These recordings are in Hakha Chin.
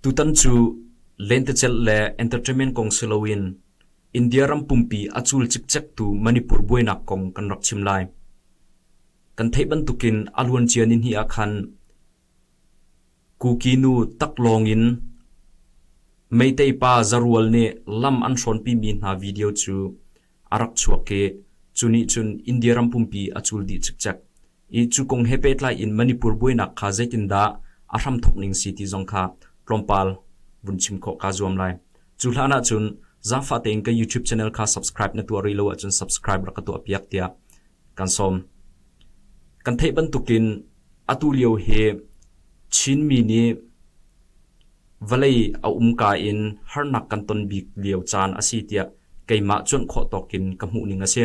Tutan cu lentecelh le entertainment kong si loin India ram pumpi a cul cikcektu Manipur buainak kong kan rak chim lai. Kan theih bantukin a luancia nihnih ah khan Kukinu taklawng in Meitei pa Zarual nih lam an hrawnpimi hna video cu a rak chuak i cu nih cun India ram pumpi a cul dih cikcek i cu kong he pehtlai in Manipur buainak kha zeitindah a hramthawk ning si ti zong kha tlawmpal vun chim khawh kaa zuam lai. Cu hlan ah cun zaangfah tein ka YouTube channel kha subscribe na tuah rih lo ahcun subscribe rak ka tuah piak tiah kan sawm. Kan theih bantukin atu lio hi Chinmi nih Vawlei a umka in harnak kan ton bik lio caan a si tiah keimah cuanh khawh tawkin ka hmuhning a si.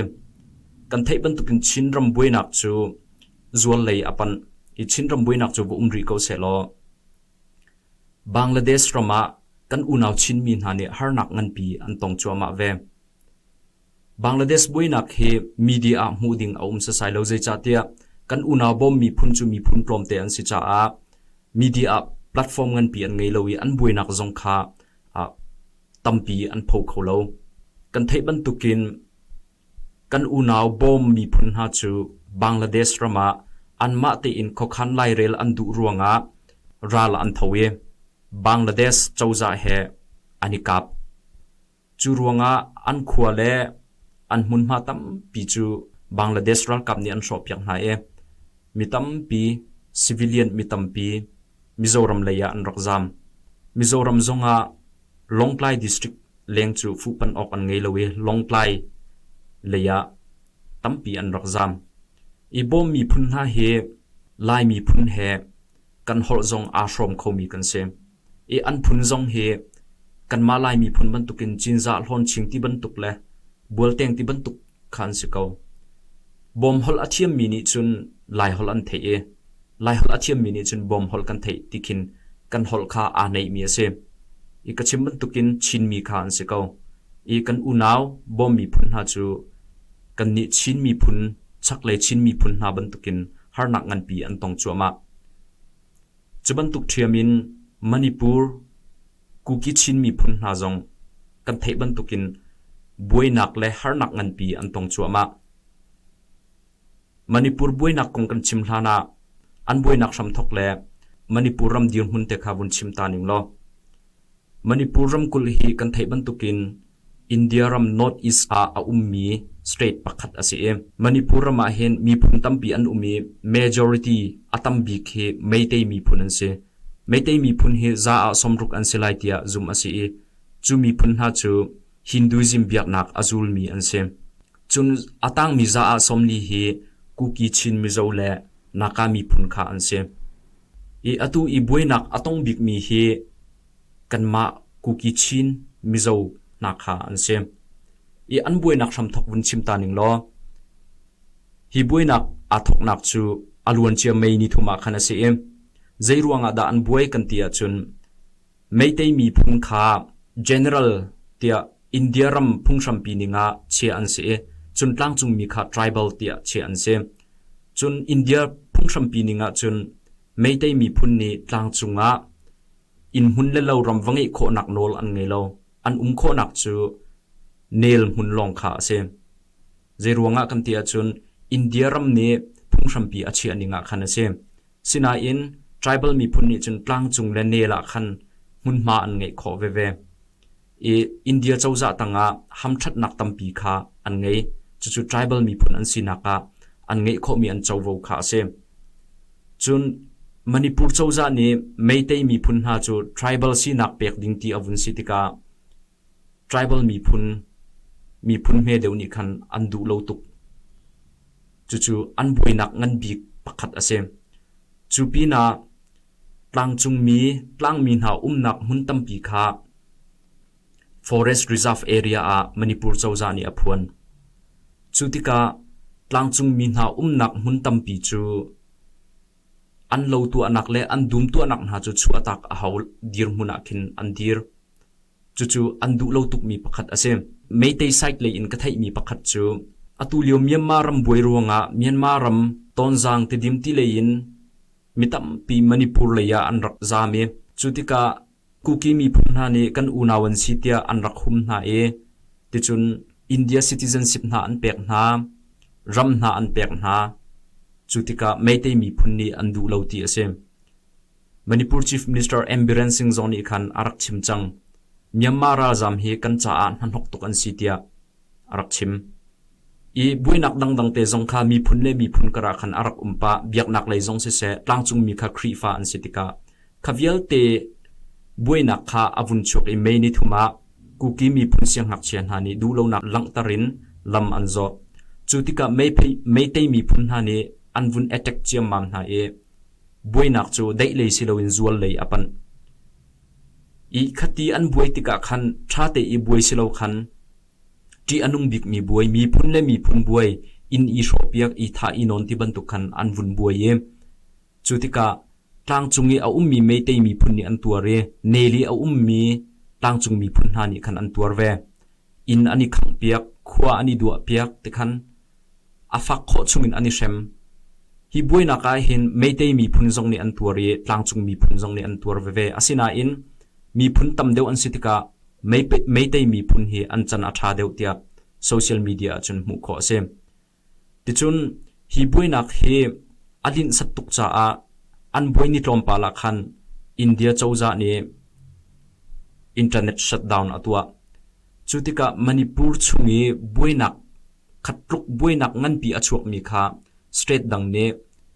Kan theih bantukin Chinram buainak cu zuarlei a panh i Chinram buainak cu va um rih ko sehlaw Bangladesh ram ah kan unau Chinmi hna nih harnak nganpi an tong cuahmah ve. Bangladesh buainak hi media ah hmuh ding a um setsai lo zeicahtiah kan unau bawmmi phun cu miphun tlawmte an si caah media ah platform nganpi an ngei lo i an buainak zong kha ah tampi an pho kho lo. Kan theih bantukin kan unau bawm miphun hna cu Bangladesh ram ah anmah tein khuakhan lairel an duh ruangah ral an tho i Bangladesh cozah he an i kap. Cu ruangah an khua le an hmunhma tampi cu Bangladesh ralkap nih an hrawhpiak hna i mi tampi, civilian mi tampi Mizoram lei ah an rak zaam. Mizoram zongah Lawngtlai district leng cu fuhpanh awk an ngei lo i Lawngtlai lei ah tampi an rak zaam. I bawm miphun hna hi Lai miphun he kan holh zong aa hrawm khomi kan si. I an phun zong hi kanmah Lai miphun bantukin Cinzah hlawnching ti bantuk le bualteng ti bantuk kha an si ko. Bawmhol a thiammi nih cun Laiholh an theih i Laiholh a thiammi nih cun bawmhol kan theih ti khin kan holh kha aa neihmi a si. I ka chim bantukin Chinmi kha an si ko. I kan unau bawm miphun hna cu kannih Chin miphun chaklei Chin miphun hna bantukin harnak nganpi an tong cuahmah. Cu bantuk ṭhiam in Manipur, Kukichin miphun hna zong kan theih bantukin buainak le harnak nganpi an tong cuahmah. Manipur buainak kong kan chim hlan ah an buainak hramthok le Manipur ram dirhmun te kha vun chim ta ning law Manipur ramkulh hi kan theih bantukin India ram North East ah a ummi state pakhat a si i Manipur ram ah hin miphun tampi an um i majority a tam bik hi Meitei miphun an si. Meitei miphun hi za ah sawmruk an si lai tiah zumh a si i cu miphun hna cu Hinduism biaknak a zulmi an si. Cun a tangmi za ah sawmli hi Kuki Chin Mizo le Naka miphun kha an si. I atu i buainak a tong bikmi hi kanmah Kuki Chin Mizo hna kha an si. I an buainak hramthok vun chim ta ning law hi buainak aa thoknak cu a luancia May ni thum ah khan a si i zeiruangah dah an buai kan ti ahcun Meitei miphung kha General tiah India ram phunghrampi ning ah chiah an si i cun tlangcungmi kha Tribal tiah chiah an si. Cun India phunghrampi ning ah cun Meitei miphun nih tlangcung ah innhmun le lo ram va ngeih khawhnak nawl an ngei lo. An um khawhnak cu nel hmun lawng kha a si. Zeiruangah kan ti ahcun India ram nih phunghrampi a chiah ning ah khan a si. Sinain tribal miphun nih cun tlangcung le nel ah khan hmunhma an ngeih khawh veve. I India cozah tangah hamṭhatnak tampi kha an ngei. Cucu tribal miphun an sinak ah an ngeih khawhmi an covo kha a si. Cun Manipur cozah nih Meitei miphun hna cu tribal sinak pek ding ti a vun si tikah Tribal miphun, miphun hme deuh nih khan an duh lo tuk. Cucu an buainak ngan bik pakhat a si. Cu pinah tlangcungmi tlangmi hna umnak hmun tampi kha Forest Reserve area ah Manipur cozah nih a phuan. Cu tikah tlangcungmi hna umnak hmun tampi cu An lo tuahnak le an dum tuahnak hna cu chuahtak a hau dirhmun ah khin an dir. Cucu an duh lo tukmi pakhat a si. Meitei site lei in ka theihmi pakhat cu atu lio Myanmar ram buai ruangah Myanmar ram Tonzang Tidim ti lei in mi tampi Manipur lei ah an rak zaam i cu tikah Kuki miphun hna nih kan unau an si tiah an rak hum hna i ticun India citizenship hna an pek hna, ram hna an pek hna. Cu tikah Meitei miphun nih an duh lo ti a si. Manipur Chief Minister Ambiran Singh zong nih khan a rak chim cang. Myanmar ralzam hi kan caah hnahnok tuk an si tiah a rak chim. I buainak dangdang te zong kha miphun le miphun karah khan a rak um pah. Biaknak lei zong siseh, tlangcungmi kha Khrihfa an si tikah kha vialte buainak kha a vun chuak i mei ni thum ah kuki miphun siangngakchia hna nih duhlonak langhter in lam an zawh. Cu tikah meitei miphun hna nih an vun attack ciammam hna i buainak cu daih lei si loin zual lei a panh. I khati an buai tikah khan ṭha te i buai si lo khan ṭih a nung bikmi buai, miphun le miphun buai in i hrawhpiak, i thah, i nawn ti bantuk khan an vun buai i cu tikah tlangcung i a ummi Meitei miphun nih an tuar i nel i a ummi tlangcung miphun hna nih khan an tuar ve. Inn an i khanghpiak, khua an i duahpiak ti khan A fak khawh chungin an i hrem. Hi buainak ah hin Meitei miphun zong nih an tuar i tlangcung miphun zong nih an tuar veve. Asinain miphun tam deuh an si tikah Meitei miphun hi an can a ṭha deuh tiah social media ahcun hmuh khawh a si. Ticun hi buainak hi a linhsat tuk caah an buai ni tlawmpal ah khan India cozah nih internet shutdown a tuah. Cu tikah Manipur chung i buainak khat tluk buainak nganpi a chuakmi kha state dang nih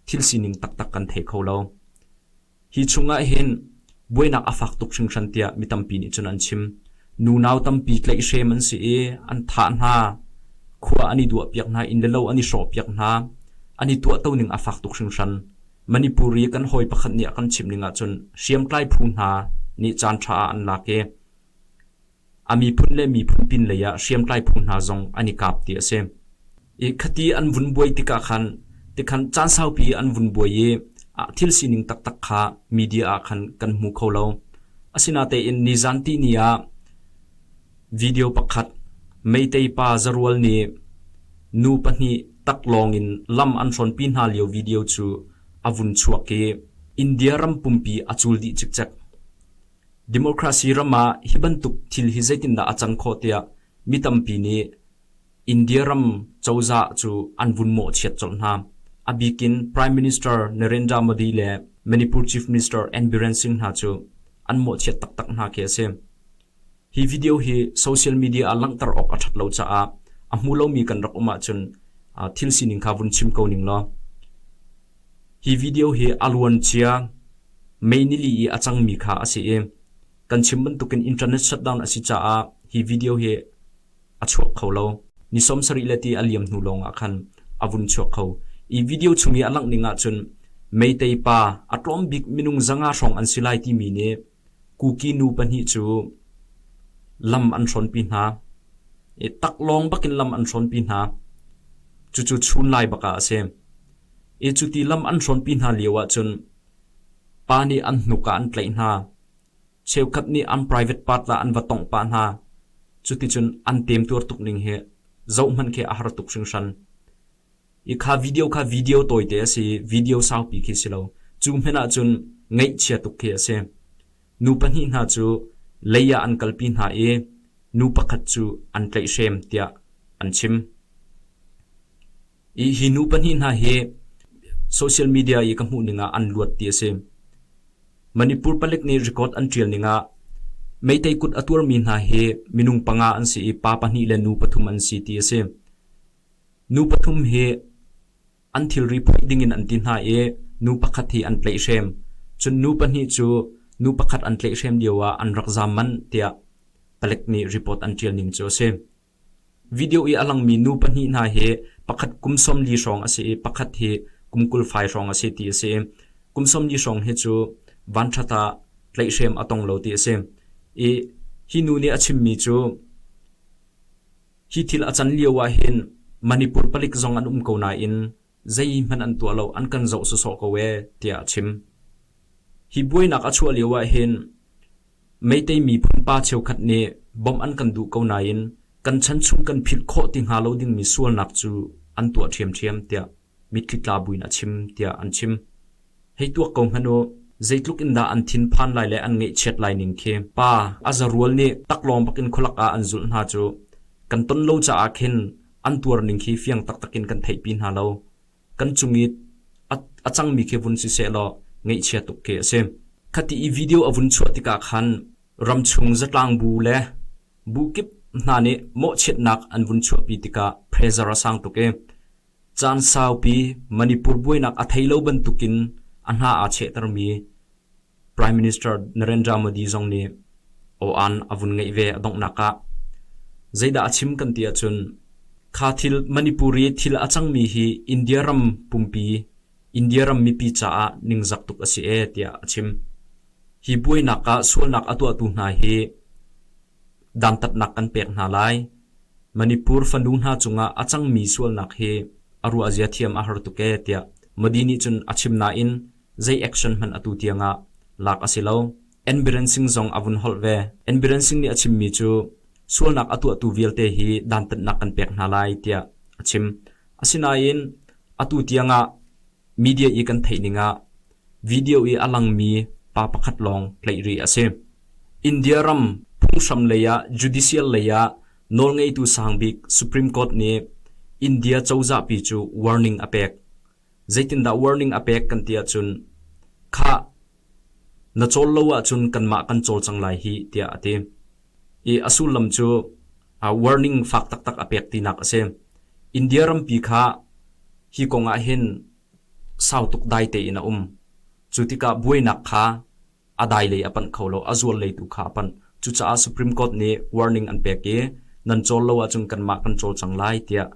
thil sining taktak kan thei kho lo. Hi chungah hin buainak a fak tuk hringhran tiah mi tampi nih cun an chim. Nunau tampi tlaihhrem an si i an thah hna, khua an i duahpiak hna, inn le lo an i hrawhpiak hna. An i tuahtoning a fak tuk hringhran. Manipuri kan hawi pakhat nih a kan chimh ning ahcun hriamtlai phu hna nih caanṭha ah an lak i A miphun le miphun pinlei ah hriamtlai phung hna zong an i kap ti a si. I khati an vun buai tikah khan tikhan caan saupi an vun buai i ah thil sining taktak kha media ah khan kan hmu kho lo. Asinatein nizanti ni ah video pakhat meitei pa zarual nih nu pahnih tak lawng in lam an hrawnpi hna lio video cu a vun chuak i India ram pumpi a cul dih cikcek. Democracy ram ah hi bantuk thil hi zeitindah a cang khawh tiah mi tampi nih India ram cozah cu an vun mawhchiat colh hna. A bikin Prime Minister Narendra Modi le Manipur Chief Minister N Biren Singh hna cu an mawhchiat taktak hna khi a si. Hi video hi social media ah langhter awk a ṭhat lo caah a hmu lomi kan rak um ahcun thil sining kha vun chim ko ning law. Hi video hi a luancia May nili i a cangmi kha a si i kan chim bantukin internet shutdown a si caah hi video hi a chuak kho lo. Ni sawm sarih le ti a liam hnu lawng ah khan a vun chuak kho. I video chung i a langh ning ahcun Meitei pa a tlawm bik minung zanga hrawng an si lai timi nih Kuki nu pahnih cu lam an hrawnpi hna i taklawng bakin lam an hrawnpi hna. Cucu chun lai bak ah a si. I cuti lam an hrawnpi hna lio ahcun pa nih an hnuk ah an tlaih hna. Cheukhat nih an private part ah an va tongh pah hna. Cuticun an temtuar tuk ning hi zohhmanh khi a har tuk hringhran. Kha video kha video tawite a si i video saupi khi si lo. Cu hmanh ah cun ngaihchia tuk khi a si. Nu pahnih hna cu lei ah an kalpi hna i nu pakhat cu an tlaihhrem tiah an chim. I hi nu pahnih hna hi social media i ka hmuh ning ah an luat ti a si. Manipur palik nih record an ṭial ning ah meitei kut a tuarmi hna hi minung panga an si i pa pahnih le nu pathum an si ti a si. Nu pathum hi an thilri phoih ding in an ti hna i nu pakhat hi an tlaih hrem. Cun nu pahnih cu nu pakhat an tlaih hrem lio ah an rak zaam manh tiah palek nih report an ṭial ning cu a si. Video i a langmi nu pahnih hna hi pakhat kum sawmli hrawng a si i pakhat hi kum kul fai hrawng a si ti a si. Kum sawmli hrawng hi cu vanṭhat ah tlaih hrem a tong lo ti a si. I hi nu nih a chimmi cu Hi thil a can lio ah hin Manipur palik zong an um ko nain zeihmanh an tuah lo an kan zoh sawsawh ko ee tiah a chim. Hi buainak a chuah lio ah hin Meitei miphun pa cheukhat nih bom an kan duh ko nain kan chan chung kan philh khawh ti hnga lo dingmi sualnak cu an tuah ṭhiamṭhiam tiah mitthli tla buin a chim, tiah an chim. Hei tuak ko hmanh u, zeitluk in dah an thinphan lai le an ngaihchiat lai ning khi. Pa, a zarual nih taklawng bakin khualak ah an zulh hna cu. Kan ton lo caah khin an tuar ning khi fiang taktak in kan theihpi hna lo. Kan cung i a cangmi khi vun si seh law ngaihchia tuk khi a si. Khati i video a vun chuah tikah khan ramchung zatlang bu le bu kip hna nih mawhchiatnak an vun chuahpi tikah pressure a sang tuk i Caan saupi Manipur buainak a thei lo bantukin a hna aa chehtermi Prime Minister Narendra Modi zong nih aw-an a vun ngeih ve a donghnak ah zeidah a chim kan ti ahcun kha thil Manipuri thil a cangmi hi India ram pumpi India ram mipi caah ningzak tuk a si e tiah a chim. Hi buainak ah sualnak a tuahtu hna hi dantatnak kan pek hna lai. Manipur fanu hna cungah a cangmi sualnak hi a ruahzia thiam a har tuk ee tiah Modi nih cun a chim nain zei action hmanh atu tiangah lak a si lo. Enbiren Singh zong a vun holh ve. Enbiren Singh nih a chimmi cu sualnak a tuahtu vialte hi dantatnak kan pek hna lai tiah a chim. Asinain atu tiangah Media i kan theih ningah video i a langmi pa pakhat lawng tlaih rih a si. India ram phunghram lei ah judicial lei ah nawlngeitu sangbik Supreme Court nih India cozah pi cu warning a pek. Zeitindah warning a pek kan ti ahcun, khah Na cawl lo ahcun kanmah kan cawl cang lai hih, tiah a ti i a sullam cu warning fak taktak a pek tinak a si. India rampi kha hi kong ah hin sau tuk dai tein a um. Cu tikah buainak kha a dai lei a panh kho lo, a zual lei tu kha a panh. Cucaah Supreme Court nih warning an pek i nan cawl lo ahcun kanmah kan cawl cang lai tiah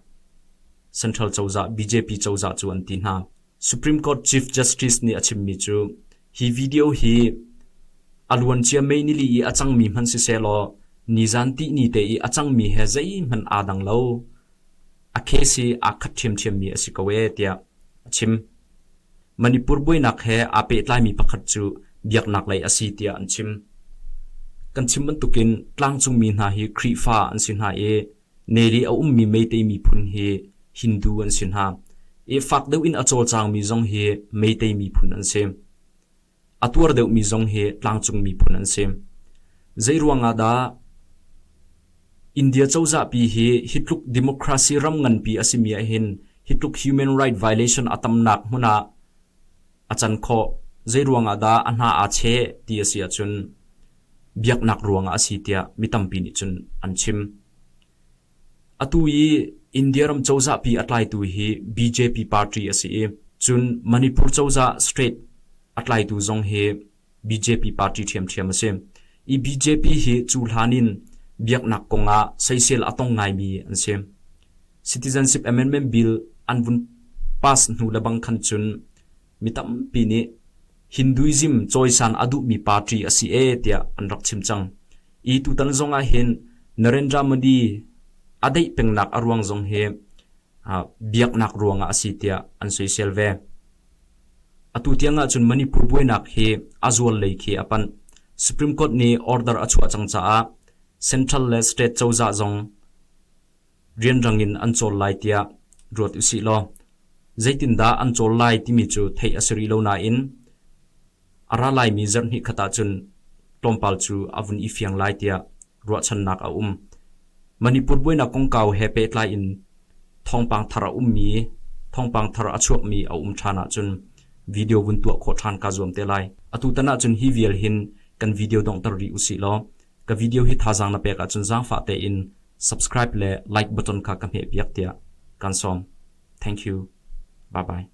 Central cozah BJP cozah cu an ti hna. Supreme Court Chief Justice nih a chimmi cu hi video hi a luancia May nili i a cangmi hmanh sisehlaw nizan tihni te i a cangmi he zeihmanh aa dang lo. A case hi aa khat ṭhiamṭhiammi a si ko ee tiah a chim. Manipur buainak he aa pehtlaimi pakhat cu biaknak lei a si tiah an chim. Kan chim bantukin tlangcungmi hna hi Khrihfa an si hna i Neli a ummi Meitei miphun hi Hindu an si hna i fak deuh in a cawlcangmi zong hi Meitei miphun an si. A tuar deuhmi zong hi tlangcung miphun an si. Zeiruangah dah? India cozahpi hi hi tluk democracy ram nganpi a simi ahhin hi tluk human right violation a tamnak hmun ah a can khawh. Zeiruangah dah a hna aa cheh ti a si ahcun biaknak ruangah a si tiah mi tampi nih cun an chim. Atu i India ram cozahpi a tlaitu hi BJP party a si i cun Manipur cozah state a tlaitu zong hi BJP party ṭhiamṭhiam a si. I BJP hi cu hlan in biaknak kongah soisel a tong ngaimi an si. Citizenship Amendment Bill an vun pass hnu lebang khan cun mi tampi nih Hinduism cawisan a duhmi party a si e tiah an rak chim cang i tutan zong ah hin Narendra Modi a daih pengnak a ruang zong hi biaknak ruangah a si tiah an soisel ve atu tiang ahcun Manipur buainak hi a zual lei khi a panh Supreme Court nih order a chuah cang caah Central le State cozah zong rianrang in an cawl lai tiah ruat usih law zeitindah an cawl lai timi cu theih a si rih lo nain a ra laimi zarh hnih khat ahcun tlawmpal cu a vun i fiang lai tiah ruahchannak a um. Manipur buainak kongkau he pehtlai in thawngpang thar a ummi, thawngpang thar a chuakmi a um ṭhan ahcun video vun tuah khawh ṭhan kaa zuam te lai. Atu tan ahcun hi vial hin kan video donghter rih usih law ka video hi thazaang na pek ahcun zaangfah tein Subscribe le like button kha ka hmehpiak tiah kan sawm. Thank you. Bye bye.